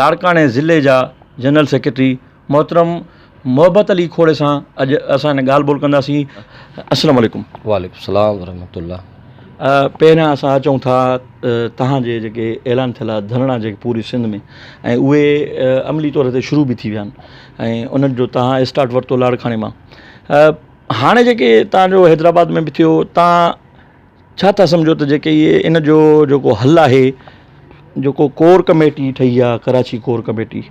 لاڙڪاڻي ضلعي جا جنرل سيڪريٽري محترم محبت علي کوڙي سان اڄ اسان هن ڳالهه ٻولهه ڪنداسين السلام عليڪم وعليڪم السلام ورحمة الله پهريان اسان اچون ٿا تهانجي جيڪي اعلان ٿيل آهي ڌرڻا جيڪي پوري سنڌ ۾ ۽ اهي عملي طور تي شروع به ٿي ويا آهن ۽ انهن جو تهان اسٽارٽ ورتو لاڙڪاڻي مان هاڻي جيڪي تهانجو حيدرآباد ۾ به ٿيو تهان ڇا ٿا سمجهو ته جيڪي اهي ان جو جيڪو حل آهي جيڪو ڪور ڪميٽي ٺهي آهي ڪراچي ڪور ڪميٽي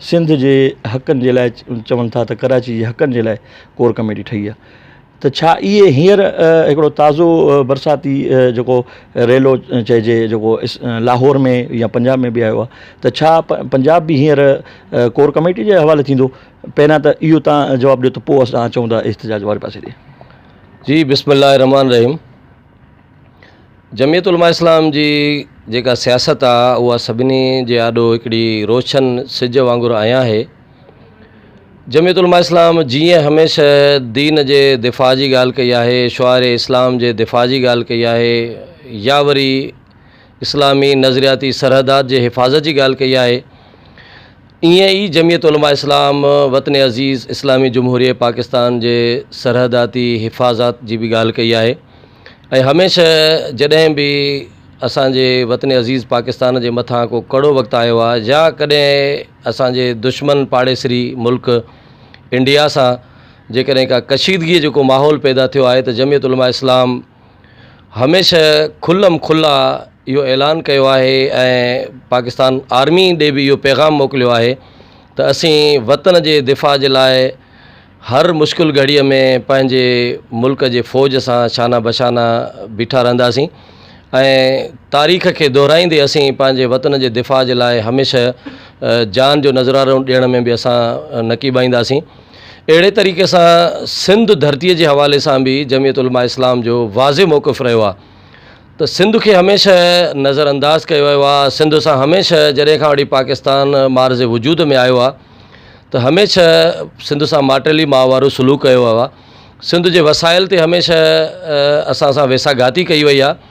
سنڌ جي حقن جي لاء چون ٿا ته ڪراچي جي حقن جي لاء ڪور ڪميٽي ٺهي آهي ته ڇا اهي هينئر هڪڙو تازو برساتي جيڪو ريلو چئجي جيڪو لاهور ۾ يا پنجاب ۾ به آيو آهي ته ڇا پنجاب به هينئر ڪور ڪميٽي جي حوالي ٿيندو پهريان ته اهو تان جواب ڏيو ته پوء اسان اچون ٿا احتجاج واري پاسي ڏي جي بسم الله الرحمٰن الرحيم جميعت علماء اسلام جي جيڪا سياست آ اها سڀني جي آڏو هڪڙي روشن سج وانگر آيان هي جميعت علماء اسلام جيئن هميشه دين جي دفاع جي ڳالهه ڪئي آهي شعار اسلام جي دفاع جي ڳالهه ڪئي آهي يا وري اسلامي نظرياتي سرحدات جي حفاظت جي ڳالهه ڪئي آهي ائين ئي جمعيت علماء اسلام وطن عزيز اسلامي جمهوريه پاڪستان جي سرحداتي حفاظات جي به ڳالهه ڪئي آهي ۽ هميشه جڏهن به اسان جي وطن عزيز پاڪستان جي مٿان ڪو ڪڙو وقت آيو آهي يا ڪڏهن اسان جي دشمن پاڙيسري ملڪ انڊيا سان جيڪڏهن ڪا ڪشيدگيء جو ڪو ماحول پيدا ٿيو آهي ته جمعيت علماء اسلام هميشه کلم کلا اهو اعلان ڪيو آهي ۽ پاڪستان آرمي ڏي به اهو پيغام موڪليو آهي ته اسين وطن جي دفاع جي لاء هر مشڪل گهڙيء ۾ پنهنجي ملڪ جي فوج سان شانه بشانه بيٺا رهنداسين ۽ تاريخ کي دهرائيندي اسين پنهنجي وطن جي دفاع جي لاء هميشه جان جو نذرارو ڏيڻ ۾ به اسان نقيب اينداسين اهڙي طريقي سان سنڌ ڌرتي جي حوالي سان به جميعت علماء اسلام جو واضح موقف رهيو آهي ته سنڌ کي هميشه نظر انداز ڪيو ويو آهي سنڌ سان هميشه جڏهن کان وٺي پاڪستان مارز وجود ۾ آيو آهي ته هميشه سنڌ سان ماٽيلي ماء وارو سلوڪ ڪيو ويو آهي سنڌ جي وسائل تي هميشه اسان سان ويساهه گهاتي ڪئي وئي آهي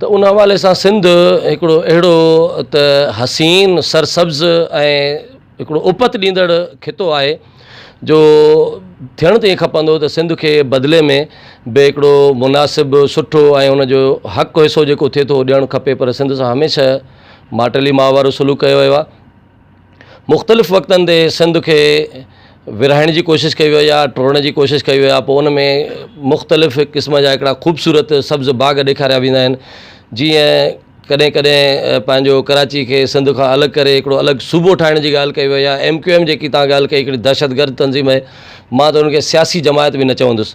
ته ان حوالي سان سنڌ هڪڙو اهڙو ته حسين سرسبز ۽ هڪڙو اپت ڏيندڙ خطو آهي جو ٿيڻ ته ائين کپندو ته سنڌ کي بدلي ۾ به هڪڙو مناسب سٺو ۽ ان جو حق حصو جيڪو ٿئي ٿو اهو ڏيڻ کپي پر سنڌ سان هميشه ماٽيلي ماء وارو سلوڪ ڪيو ويو آهي مختلف وقتن تي سنڌ کي ورهائڻ جي ڪوشش ڪئي وئي آهي ٽوڙڻ جي ڪوشش ڪئي وئي آهي پوء ان ۾ مختلف قسم جا هڪڙا خوبصورت سبز باغ ڏيکاريا ويندا آهن جيئن ڪڏهن ڪڏهن پنهنجو ڪراچي کي سنڌ کان الڳ ڪري هڪڙو الڳ صوبو ٺاهڻ جي ڳالهه ڪئي وئي آهي ايم ڪيو ايم جيڪي تان ڳالهه ڪئي هڪڙي دهشت گرد تنظيم آهي مان ته ان کي سياسي جماعت به نه چوندس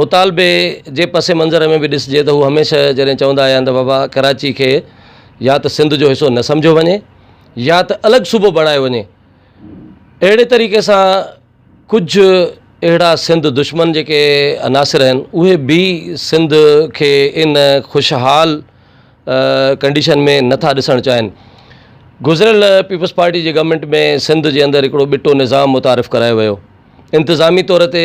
مطالبي جي پس منظر ۾ به ڏسجي ته هو هميشه جڏهن چوندا آيا آهن ته بابا ڪراچي کي يا ته سنڌ جو حصو نه سمجهيو وڃي يا ته الڳ صوبو بڻايو وڃي اهڙي طريقي سان ڪجهه اهڙا سنڌ دشمن جيڪي عناصر آهن اهي به سنڌ کي ان خوشحال ڪنڊيشن ۾ نٿا ڏسڻ چاهين گذريل پيپلز پارٽي جي گورنمنٽ ۾ سنڌ جي اندر هڪڙو ٻٽو نظام متعارف ڪرايو ويو انتظامي طور تي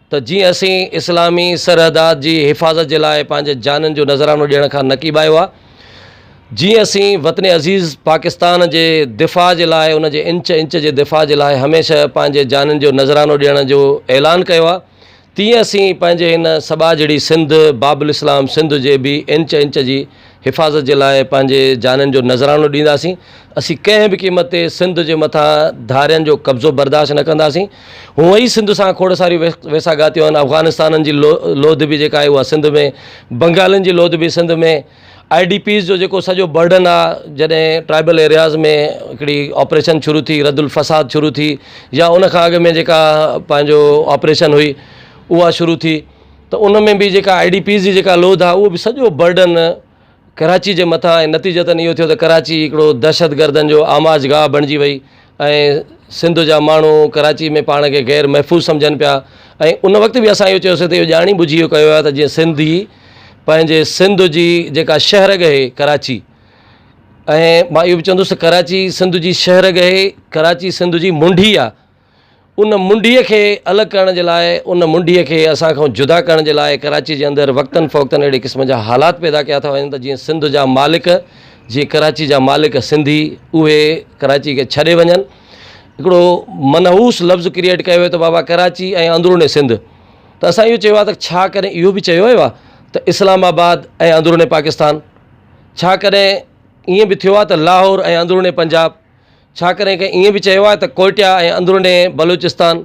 ته جيئن اسين اسلامي سرحدات جي حفاظت جي لاء پنهنجي جانن جو نذرانو ڏيڻ کان نڪيب آيو آ، جيئن اسين وطن عزيز پاڪستان جي دفاع جي لاء ان جي انچ انچ جي دفاع جي لاء هميشه پنهنجي جانن جو نذرانو ڏيڻ جو اعلان ڪيو آ، تيئن اسين پنهنجي هن سٻاجهڙي سنڌ باب الاسلام سنڌ جي به انچ انچ جي حفاظت جي لاء پنهنجي جانن جو نذرانو ڏينداسين، اسين ڪنهن به قيمت تي سنڌ جي مٿان ڌارين جو قبضو برداشت نه ڪنداسين، هونء ئي سنڌ سان کوڙ ساريون ويساهگاتيون آهن، افغانستانن جي لوڌ به جيڪا آهي اها سنڌ ۾، بنگالين جي لوڌ به سنڌ ۾، آئي ڊي پيز جو جيڪو سڄو برڊن آهي جڏهن ٽرائبل ايرياز ۾ هڪڙي آپريشن شروع ٿي رد الفساد شروع ٿي يا ان کان اڳ ۾ جيڪا پنهنجو آپريشن هئي اها شروع ٿي، ته ان ۾ به جيڪا آئي ڊي پيز جي جيڪا لوڌ آهي اهو به سڄو برڊن ڪراچي جي مٿان ۽ نتيجتاً اهو ٿيو ته ڪراچي هڪڙو دهشت گردن جو آماج گاهه بڻجي وئي ۽ سنڌ جا ماڻهو ڪراچي ۾ پاڻ کي غير محفوظ سمجهن پيا ۽ ان وقت به اسان اهو چيوسي ته اهو ڄاڻي ٻجهي اهو ڪيو ويو ته جيئن سنڌي پنهنجي سنڌ جي جيڪا شهر ڳهي ڪراچي ۽ مان اهو به چوندس ته ڪراچي سنڌ جي شهر ڳهي ڪراچي سنڌ جي منڊي آهي ان منڊيء کي الڳ ڪرڻ جي لاء، ان منڊيء کي اسان کان جدا ڪرڻ جي لاء ڪراچيء جي اندر وقتن فوقتن اهڙي قسم جا حالات پيدا ڪيا ٿا وڃن ته جيئن سنڌ جا مالڪ، جيئن ڪراچيء جا مالڪ سنڌي اهي ڪراچيء کي ڇڏي وڃن. هڪڙو منحوس لفظ ڪريئيٽ ڪيو ويو ته بابا ڪراچي ۽ اندروني سنڌ ته اسان اهو چيو آهي ته ڇا ڪڏهن اهو به چيو ويو آهي ته اسلام آباد ۽ اندروني پاڪستان؟ ڇا ڪڏهن ائين به ٿيو آهي ته لاهور ۽ اندروني پنجاب؟ ڇاڪري ڪنهن ائين به چيو آهي ته ڪوئٽه ۽ اندروني بلوچستان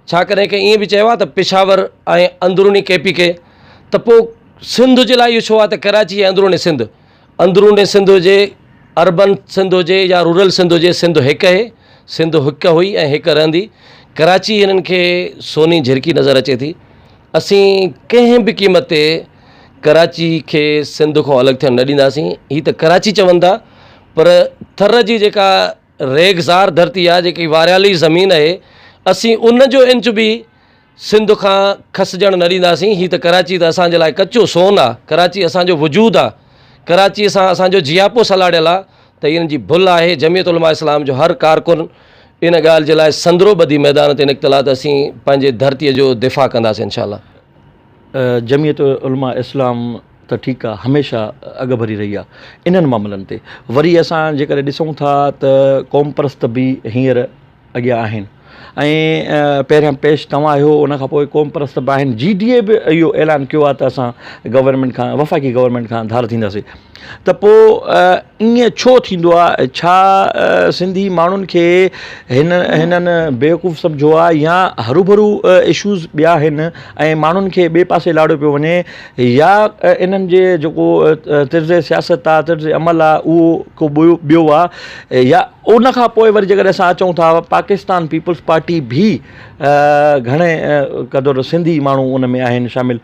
ڇاڪري ڪنهن ائين به چيو آهي ته پشاور ۽ اندروني ڪي پي ڪي ته پوء سنڌ جي لاء اهو ڇو آهي ته ڪراچي ۽ اندروني سنڌ اندروني سنڌ هجي اربن سنڌ هجي يا رورل سنڌ هجي سنڌ هڪ اهي سنڌ هڪ هئي ۽ هڪ رهندي ڪراچي هنن کي سوني جهرڪي نظر اچي ٿي اسين ڪنهن به قيمت تي ڪراچي کي سنڌ کان الڳ ٿيڻ نه ڏينداسين هي ته ڪراچي چون ٿا پر ٿر جي جيڪا ريگزار ڌرتي آهي جيڪي واريالي زمين آهي اسين ان جو انچ به سنڌ کان کسجڻ نه ڏينداسين هي ته ڪراچي ته اسانجي لاء ڪچو سون آهي ڪراچي اسانجو وجود آهي ڪراچي سان اسانجو جياپو سلاڙيل آهي ته ان جي ڀل آهي جميعت علماء اسلام جو هر ڪارڪن ان ڳالهه جي لاء سندرو ٻڌي ميدان تي نڪتل آهي ته اسين پنهنجي ڌرتي جو دفاع ڪنداسين انشاء الله جمعيت علماء اسلام ته ٺيڪ آ هميشه اڳڀري رهي آ انهن معاملن تي وري اسان جيڪڏهن ڏسون ٿا ته قومپرست به هينئر اڳيان آهن ۽ پهريان پيش توهان آهيو ان کان پوء قومپرست به آهن جي ڊي اي به اهو اعلان ڪيو آ ته اسان گورنمينٽ کان وفاقي گورنمينٽ کان ڌار ٿينداسين ته پوء ائين ڇو ٿيندو آهي؟ ڇا سنڌي ماڻهن کي هنن بيوقوف سمجهيو آهي يا هروڀرو اشوز ٻيا آهن ۽ ماڻهن کي ٻئي پاسي لاڙيو پيو وڃي يا انهن جي جيڪو طرز سياست آهي طرز عمل آهي اهو ڪو ٻيو آهي يا ان کان پوء وري جيڪڏهن اسان اچون ٿا پاڪستان پيپلز پارٽي به گهڻي قدر سنڌي ماڻهو ان ۾ آهن شامل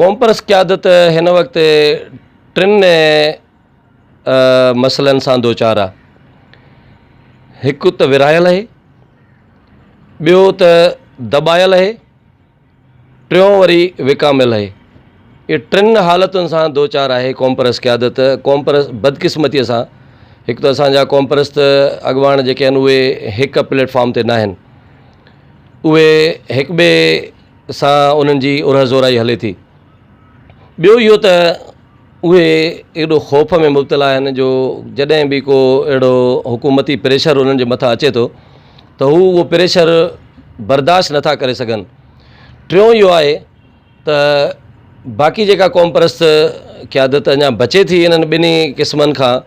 قومپرست قيادت هن وقت ٽن مسئلن سان دوچار آ هڪ ته ورهايل آهي ٻيو ته دٻايل آهي ٽيون وري وڪامل آهي اهي ٽن حالتن سان دوچار آهي قومپرست قيادت قومپرست بدقسمتيء سان هڪ ته اسانجا قومپرست اڳواڻ جيڪي آهن اهي هڪ پليٽ فارم تي ناهن اهي هڪ ٻئي سان انهن جي اورهه زورائي هلي ٿي. ٻيو اهو ته اهي ايڏو خوف ۾ مبتلا آهن جو جڏهن به ڪو اهڙو حڪومتي پريشر انهن جي مٿان اچي ٿو ته هو اهو پريشر برداشت نٿا ڪري سگهن. ٽيون اهو آهي ته باقي جيڪا قومپرست قيادت اڃا بچي ٿي انهن ٻنهي قسمن کان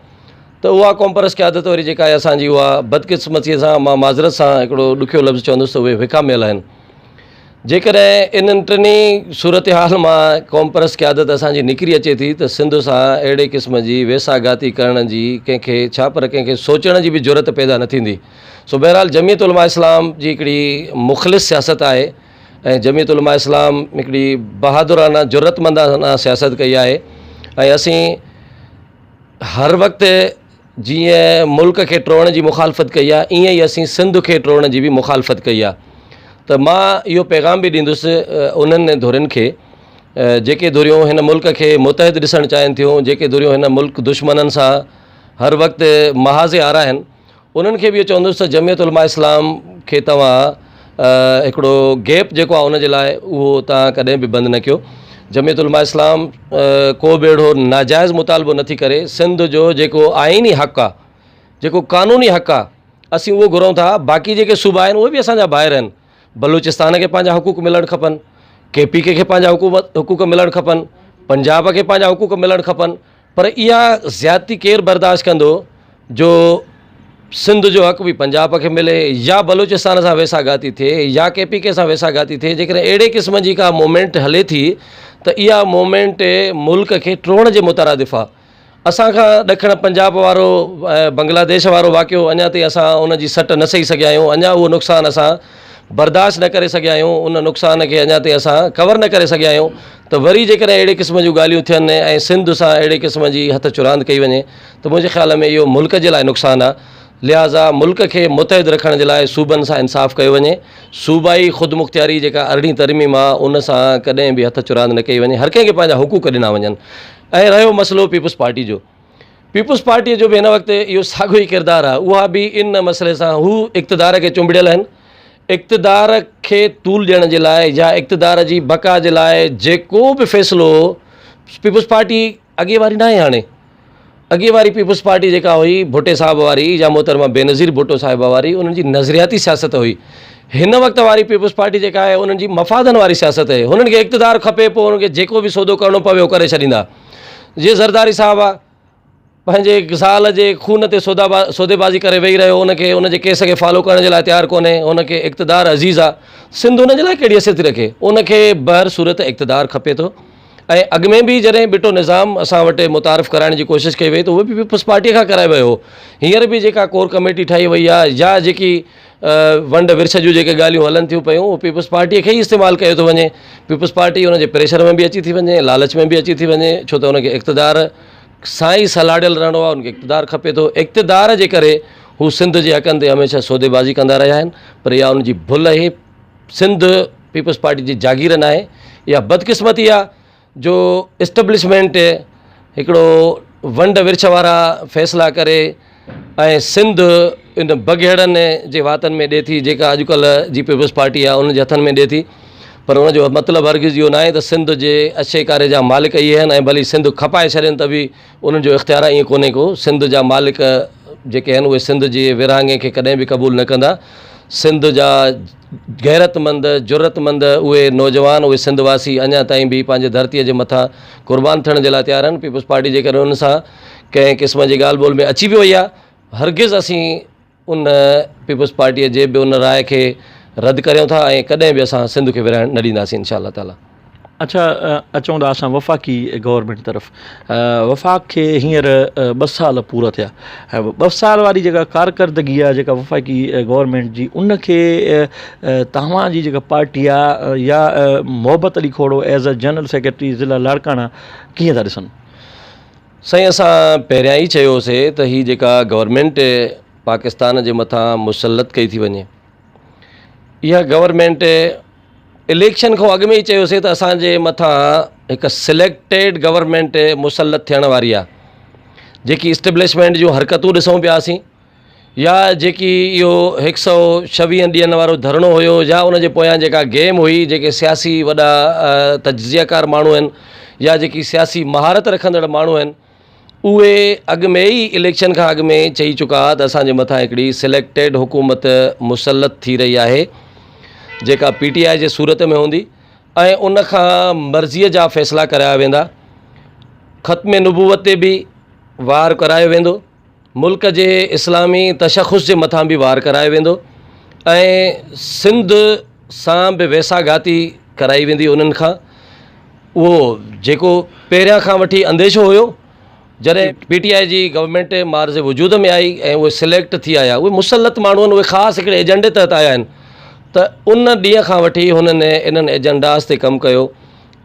ته اها قومپرست قيادت وري جيڪا آهي اسان جي اها بدقسمتيء سان مان معذرت سان هڪڙو ڏکيو لفظ چوندس ته اهي وکاميل آهن. جيڪڏهن انهن ٽنهي صورتحال مان قومپرست قيادت اسان جي نڪري اچي ٿي ته سنڌ سان اهڙي قسم جي ويساهه گهاتي ڪرڻ جي ڪنهن کي ڇا پر ڪنهن کي سوچڻ جي به جرئت پيدا نه ٿيندي. سو بهرحال جميعت علماء اسلام جي هڪڙي مخلص سياست آهي ۽ جميعت علماء اسلام هڪڙي بهادرانه جرئتمندانه سياست ڪئي آهي ۽ اسين هر وقت جيئن ملڪ کي ٽوڙڻ جي مخالفت ڪئي آهي ايئن ئي اسين سنڌ کي ٽوڙڻ جي به مخالفت ڪئي آهي ته مان اهو پيغام به ڏيندس انهن ڌرين کي جيڪي ڌريون هن ملڪ کي متحد ڏسڻ چاهين ٿيون جيڪي ڌريون هن ملڪ دشمنن سان هر وقت محاذ آرا آهن انهن کي به اهو چوندس ته جميعت علماء اسلام کي توهان هڪڙو گيپ جيڪو آهي ان جي لاء اهو تان ڪڏهن به بند نه ڪيو جميعت علماء اسلام ڪو به اهڙو ناجائز مطالبو نه ٿي ڪري سنڌ جو جيڪو آئيني حق آهي جيڪو قانوني حق آهي اسين اهو گهرون ٿا باقي جيڪي صوبا آهن اهي به اسان جا ڀائر آهن بلوچستان کي پنهنجا حقوق ملڻ کپن ڪي پي ڪي کي پنهنجا حقوق حقوق ملڻ کپن پنجاب کي پنهنجا حقوق ملڻ کپن پر اها زيادتي ڪير برداشت ڪندو جو سنڌ جو حق به پنجاب کي ملي يا بلوچستان سان ويسا گهاتي ٿئي يا ڪي پي ڪي سان ويسا گهاتي ٿئي جيڪڏهن اهڙي قسم جي ڪا مومينٽ هلي ٿي ته اها مومينٽ ملڪ کي ٽوڙڻ جي مترادف آ اسان کان ڏکڻ پنجاب وارو بنگلاديش وارو واقعو اڃا تائين اسان ان جي سٽ نه سهي سگهيا آهيون اڃا اهو نقصان اسان برداشت نه ڪري سگهيا آهيون ان نقصان کي اڃا تائين اسان ڪور نه ڪري سگهيا آهيون ته وري جيڪڏهن اهڙي قسم جون ڳالهيون ٿين ۽ سنڌ سان اهڙي قسم جي هٿ چراند ڪئي وڃي ته منهنجي خيال ۾ اهو ملڪ جي لاء نقصان آهي لهٰذا ملڪ کي متحد رکڻ جي لاء صوبن سان انصاف ڪيو وڃي صوبائي خودمختياري جيڪا ارڙهين ترميم آهي ان سان ڪڏهن به هٿ چراند نه ڪئي وڃي هر ڪنهن کي پنهنجا حقوق ڏنا وڃن ۽ رهيو مسئلو پيپلز پارٽي جو پيپلز پارٽيء جو به هن وقت اهو ساڳيو ئي ڪردار آهي، اها به ان مسئلي سان هو اقتدار کي چنبڙيل آهن، اقتدار کي طول ڏيڻ جي لاء يا اقتدار جي بقا جي لاء جيڪو به فيصلو پيپلز پارٽي اڳي واري ناهي هاڻي اڳي واري پيپلز پارٽي جيڪا هئي ڀٽي صاحب واري يا محترمه بينظير ڀٽو صاحبه واري انهن جي نظرياتي سياست هئي هن وقت واري پيپلز پارٽي جيڪا آهي انهن جي مفادن واري سياست آهي هنن کي اقتدار کپي پوء انهن کي جيڪو به سودو ڪرڻو پوي اهو ڪري ڇڏيندا جي زرداري صاحب آ پنهنجي زال جي خون تي سودا با سودي بازي ڪري ويهي رهيو ان کي ان جي ڪيس کي فالو ڪرڻ جي لاء تيار ڪونهي ان کي اقتدار عزيز آ سنڌ ان جي لاء ڪهڙي حيثيت ٿي رکي ان کي بهر صورت اقتدار کپي ٿو ۽ اڳ ۾ به جڏهن بٽو نظام اسان وٽ متعارف ڪرائڻ جي ڪوشش ڪئي وئي ته اهو به پيپلز پارٽيء کان ڪرايو ويو هو هينئر به جيڪا ڪور ڪميٽي ٺاهي وئي آ يا جيڪي ونڊ ورڇ جون جيڪي ڳالهيون هلن ٿيون پيون اهو پيپلز پارٽيء کي ئي استعمال ڪيو ٿو وڃي پيپلز پارٽي ان جي پريشر ۾ به اچي ٿي وڃي لالچ ۾ به اچي ٿي وڃي ڇو ته ان کي اقتدار سان ئي سلاڙيل رهڻو آهي ان کي اقتدار کپي ٿو اقتدار جي ڪري هو سنڌ جي حقن تي هميشه سوديبازي ڪندا رهيا آهن پر اها ان جي ڀل اهي سنڌ پيپلز پارٽي جي جاگير ناهي اها بدقسمتي آهي جو اسٽبلشمينٽ هڪڙو ونڊ ورڇ وارا فيصلا ڪري ۽ سنڌ ان بگهڙن جي واتن ۾ ڏي ٿي جيڪا اڄڪلهه جي پيپلز پارٽي آهي ان جي هٿن ۾ ڏي ٿي پر ان جو مطلب هرگز اهو ناهي ته سنڌ جي اشي ڪاري جا مالڪ اهي آهن ۽ ڀلي سنڌ کپائي ڇڏين ته به انهن جو اختيار ائين ڪونهي ڪو سنڌ جا مالڪ جيڪي آهن اهي سنڌ جي ورهاڱي کي ڪڏهن به قبول نه ڪندا سنڌ جا غيرتمند، جرئتمند اهي نوجوان، اهي سنڌ واسي اڃا تائين به پنهنجي ڌرتيء جي مٿان قربان ٿيڻ جي لاء تيار آهن. پيپلز پارٽي جيڪڏهن ان سان ڪنهن قسم جي ڳالهه ٻولهه ۾ اچي به وئي آهي، هرگز اسين ان پيپلز پارٽيء جي به ان راء کي رد ڪريون ٿا ۽ ڪڏهن به اسان سنڌ کي ورهائڻ نه ڏينداسين انشاء الله تعاليٰ. اڇا اچون ٿا اسان وفاقي گورنمينٽ طرف وفاق کي هينئر ٻه سال پورا ٿيا ۽ ٻه سال واري جيڪا ڪارڪردگي آهي جيڪا وفاقي گورنمينٽ جي ان کي تهوان جي جيڪا پارٽي آهي يا Mohabbat Ali Khoro as a general secretary ضلع لاڙڪاڻا ڪيئن ٿا ڏسن سائين اسان پهريان ئي چيو سي ته هي جيڪا گورنمينٽ پاڪستان جي مٿان مسلط ڪئي ٿي وڃي اها گورنمينٽ اليڪشن کان اڳ ۾ ئي چيوسين ته اسان جي مٿان هڪ سليڪٽيڊ گورنمينٽ مسلط ٿيڻ واري آهي جيڪي اسٽبلشمينٽ جون حرڪتون ڏسون پيا اسين يا جيڪي اهو هڪ سؤ ڇويهن ڏينهن وارو ڌرڻو هيو يا ان جي پويان جيڪا گيم هئي جيڪي سياسي وڏا تجزيه ڪار ماڻهو آهن يا جيڪي سياسي مهارت رکندڙ ماڻهو آهن اهي اڳ ۾ ئي اليڪشن کان اڳ ۾ چئي چڪا ته اسان جي مٿان هڪڙي سليڪٽيڊ حڪومت مسلط ٿي رهي آهي جيڪا پي ٽي آء جي صورت ۾ هوندي ۽ ان کان مرضيء جا فيصلا ڪرايا ويندا ختم نبوت تي به وار ڪرايو ويندو ملڪ جي اسلامي تشخص جي مٿان به وار ڪرايو ويندو ۽ سنڌ سان به ويسا گهاتي ڪرائي ويندي انهن کان اهو جيڪو پهريان کان وٺي انديشو هيو جڏهن پي ٽي آء جي گورنمنٽ معارض وجود ۾ آئي ۽ اهي سليڪٽ ٿي آيا اهي مسلط ماڻهو اهي خاص هڪڙي ايجنڊي تحت آيا آهن ته ان ڏينهن کان وٺي هنن انهن ايجنڊاز تي ڪم ڪيو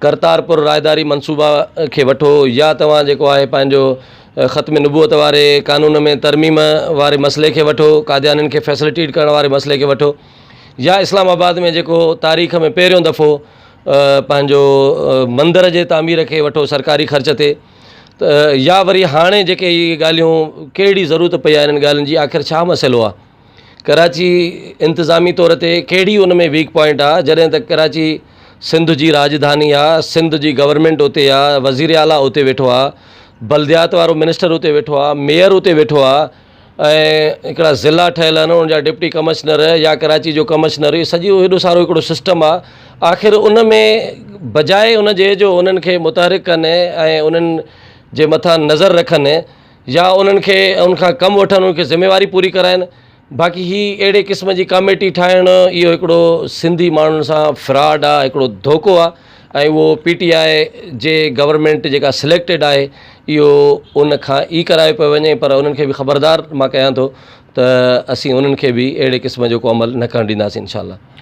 ڪرتارپور راهداري منصوبا کي وٺو يا توهان جيڪو آهي پنهنجو ختم نبوت واري قانون ۾ ترميم واري مسئلي کي وٺو قاديانين کي فيسلٽيٽ ڪرڻ واري مسئلي کي وٺو يا اسلام آباد ۾ جيڪو تاريخ ۾ پهريون دفعو پنهنجو مندر جي تعمير کي وٺو سرڪاري خرچ تي يا وري هاڻي جيڪي ڳالهيون ڪهڙي ضرورت پئي آهي انهن ڳالهين جي آخر ڇا مسئلو آهي ڪراچي انتظامي طور تي ڪهڙي ان ۾ ويڪ پوائنٽ آ جڏهن ته ڪراچي سنڌ جي راڄڌاني آ سنڌ جي گورنمينٽ اتي آ وزير اعليٰ اتي ويٺو آ بلديات وارو منسٽر اتي ويٺو آ ميئر اتي ويٺو آ ۽ هڪڙا ضلعا ٺهيل آهن ان جا ڊپٽي ڪمشنر يا ڪراچي جو ڪمشنر اهو سڄو هيڏو سارو هڪڙو سسٽم آ آخر ان ۾ بجاء ان جي جو انهن کي متحرڪ ڪن ۽ انهن جي مٿان نظر رکن يا انهن کي ان کان ڪم وٺن انهن کي ذميواري پوري ڪرائن باقي هي اهڙي قسم جي ڪاميٽي ٺاهڻ اهو هڪڙو سنڌي ماڻهن سان فراڊ آ هڪڙو ڌوڪو آ ۽ اهو پي ٽي آء جي گورنمينٽ جيڪا سليڪٽيڊ آهي اهو ان کان ئي ڪرايو پيو وڃي پر انهن کي به خبردار مان ڪيان ٿو ته اسين انهن کي به اهڙي قسم جو ڪو عمل نه ڪرڻ ڏينداسين انشاء الله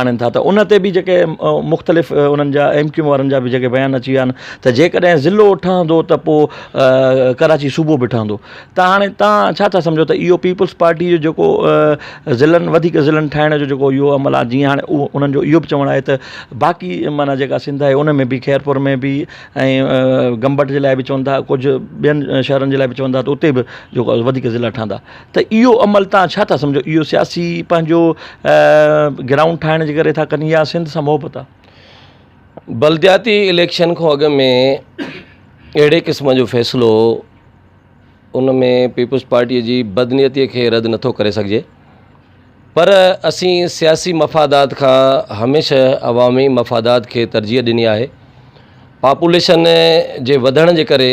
آڻين ٿا ته ان تي به جيڪي مختلف انهن جا ايم ڪيو وارن جا به جيڪي بيان اچي ويا آهن ته جيڪڏهن ضلعو ٺهندو ته پوء ڪراچي صوبو به ٺهندو ته هاڻي تان ڇا ٿا سمجهو ته اهو پيپلز پارٽي جو جيڪو ضلعن وڌيڪ ضلعن ٺاهڻ جو جيڪو اهو عمل آهي جيئن هاڻي اهو انهن جو اهو به چوڻ آهي ته باقي معنيٰ جيڪا سنڌ آهي ان ۾ به خيرپور ۾ به ۽ گمبٽ جي لاء به چون ٿا ڪجهه ٻين شهرن جي لاء به چون ٿا ته اتي به جيڪو وڌيڪ ضلعا ٺهندا ته اهو عمل توهان ڇا ٿا سمجهو اهو سياسي پنهنجو گرائونڊ ٺاهڻ جي ڪري ٿا ڪن يا سنڌ سان محبت آ؟ بلدياتي اليڪشن کان اڳ ۾ اهڙي قسم جو فيصلو ان ۾ پيپلز پارٽيء جي بدنيتيء کي رد نٿو ڪري سگهجي پر اسين سياسي مفادات کان هميشه عوامي مفادات کي ترجيح ڏني آهي پاپوليشن جي وڌڻ جي ڪري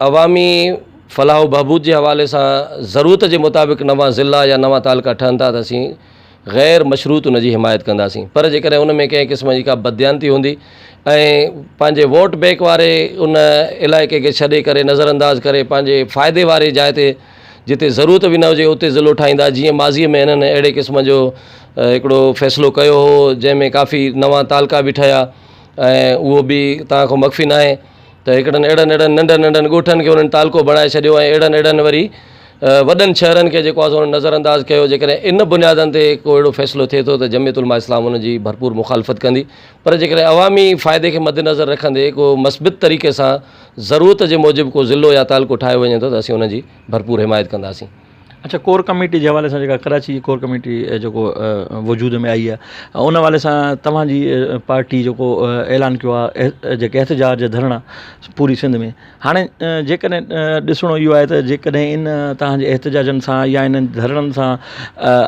عوامي فلاح و بهبود جي حوالي سان ضرورت جي مطابق نوان ضلع يا نوان تعلقا ٺهن ٿا ته اسين غير مشروط ان جي حمايت ڪنداسين پر جيڪڏهن ان ۾ ڪنهن قسم جي ڪا بدديانتي هوندي ۽ پنهنجي ووٽ بينڪ واري ان علائقي کي ڇڏي ڪري نظر انداز ڪري پنهنجي فائدي واري جاء تي جتي ضرورت به نه هجي اتي ضلعو ٺاهيندا جيئن ماضي ۾ هنن اهڙي قسم جو هڪڙو فيصلو ڪيو هو جنهن ۾ ڪافي نوان تعلقا به ٺهيا ۽ اهو به توهان کان مخفي ناهي ته هڪڙن اهڙن اهڙن ننڍن ننڍن ڳوٺن کي انهن تعلقو بڻائي ڇڏيو ۽ اهڙن اهڙن وري وڏن شهرن کي جيڪو آسان نظر انداز ڪيو جيڪڏهن ان بنيادن تي ڪو اهڙو فيصلو ٿئي ٿو ته جميت علماء اسلام ان جي ڀرپور مخالفت ڪندي پر جيڪڏهن عوامي فائدي کي مد نظر رکندي ڪو مثبت طريقي سان ضرورت جي موجب ڪو ضلعو يا تعلقو ٺاهيو وڃي ٿو ته اسين ان جي ڀرپور حمايت ڪنداسين اڇا ڪور ڪميٽي جي حوالي سان جيڪا ڪراچي جي ڪور ڪميٽي جيڪو وجود ۾ آئي آهي ان حوالي سان توهان جي پارٽي جيڪو اعلان ڪيو آهي جيڪي احتجاج جا ڌرڻا پوري سنڌ ۾ هاڻي جيڪڏهن ڏسڻو اهو آهي ته جيڪڏهن ان توهان جي احتجاجن سان يا انهن ڌرڻن سان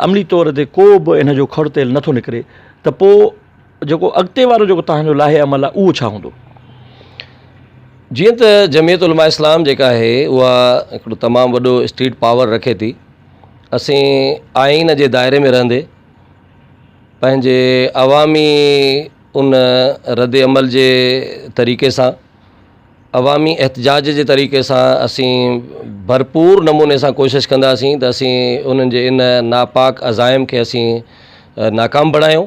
عملي طور تي ڪو به ان جو کڙتيل نٿو نڪري ته پوء جيڪو اڳتي وارو جيڪو توهان جو لائحه عمل آهي اهو ڇا هوندو؟ جيئن ته جمعيت علماء اسلام جيڪا آهي اها هڪڙو تمام وڏو اسٽيٽ پاور رکي ٿي اسين آئين جي دائري ۾ رهندي پنهنجي عوامي ان رد عمل جي طريقي سان عوامي احتجاج جي طريقي سان اسين ڀرپور نموني سان ڪوشش ڪنداسين ته اسين انهن جي ان ناپاڪ عزائم کي اسين ناڪام بڻايون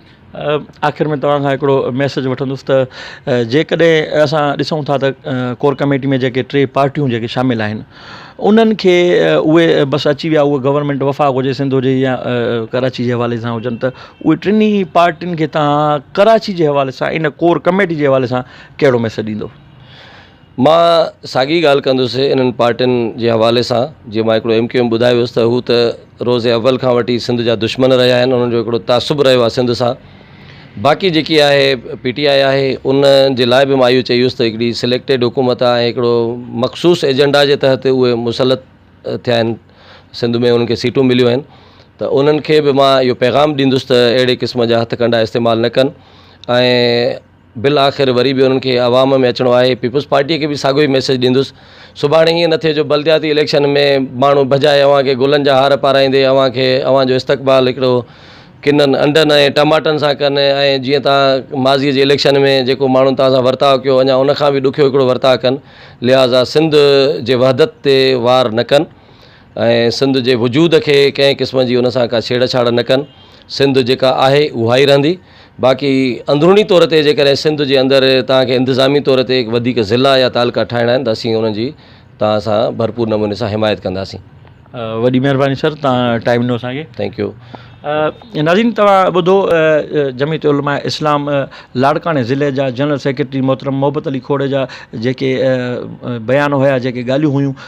آخر ۾ توهان کان هڪڙو ميسج وٺندس ته جيڪڏهن اسان ڏسون ٿا ته ڪور ڪميٽي ۾ جيڪي ٽي پارٽيون جيڪي شامل آهن انهن کي اهي بس اچي ويا اهي گورنمينٽ وفاق هجي سنڌ هجي يا ڪراچي جي حوالي سان هجن ته اهي ٽنهي پارٽين کي تان ڪراچي جي حوالي سان ان ڪور ڪميٽي جي حوالي سان ڪهڙو ميسج ڏيندو مان ساڳي ڳالهه ڪندس انهن پارٽين جي حوالي سان جيئن مان هڪڙو ايم ڪيو ايم ٻڌايو هيس ته هو ته روز اول کان وٺي سنڌ جا دشمن رهيا آهن انهن جو هڪڙو تعصب رهيو آهي سنڌ سان باقي جيڪي آهي پي ٽي آء آهي ان جي لاء به مان اهو چيو هيس ته هڪڙي سليڪٽيڊ حڪومت آهي ۽ هڪڙو مخصوص ايجنڊا جي تحت اهي مسلط ٿيا آهن سنڌ ۾ انهن کي سيٽون مليون آهن ته انهن کي به مان اهو پيغام ڏيندس ته اهڙي قسم جا هٿ ڪنڊا استعمال نه ڪن ۽ بالاخر وري به انهن کي عوام ۾ اچڻو آهي، پيپلز پارٽيء کي به ساڳيو ئي ميسيج ڏيندس، سڀاڻي ائين نه ٿئي جو بلدياتي اليڪشن ۾ ماڻهو ڀڄائي اوهان کي گلن جا هار پارائيندي اوهان کي اوهان جو استقبال هڪڙو ڪنن انڊن ۽ ٽماٽن سان ڪن ۽ جيئن توهان ماضيء جي اليڪشن ۾ جيڪو ماڻهن توهان سان ورتاء ڪيو اڃا ان کان به ڏکيو هڪڙو ورتاء ڪن لهذا سنڌ جي وحدت تي وار نه ڪن. ۽ سنڌ جي وجود کي ڪنهن قسم جي ان سان ڪا ڇيڙ ڇاڙ نه ڪن سنڌ جيڪا آهي اها ئي رهندي باقي اندروني طور تي جيڪڏهن سنڌ جي اندر توهان کي انتظامي طور تي وڌيڪ ضلعا يا تعلقا ٺاهڻا آهن ته اسين انهن جي توهان سان ڀرپور نموني سان حمايت ڪنداسين وڏي مهرباني سر توهان ٽائيم ڏنو اسان کي ٿينڪ يو ناظرين توهان ٻڌو جميعت علماء اسلام لاڙڪاڻي ضلعي جا جنرل سيڪريٽري محترم محبت علي کوڙيجا جيڪي بيان هيا جيڪي ڳالهيون هيون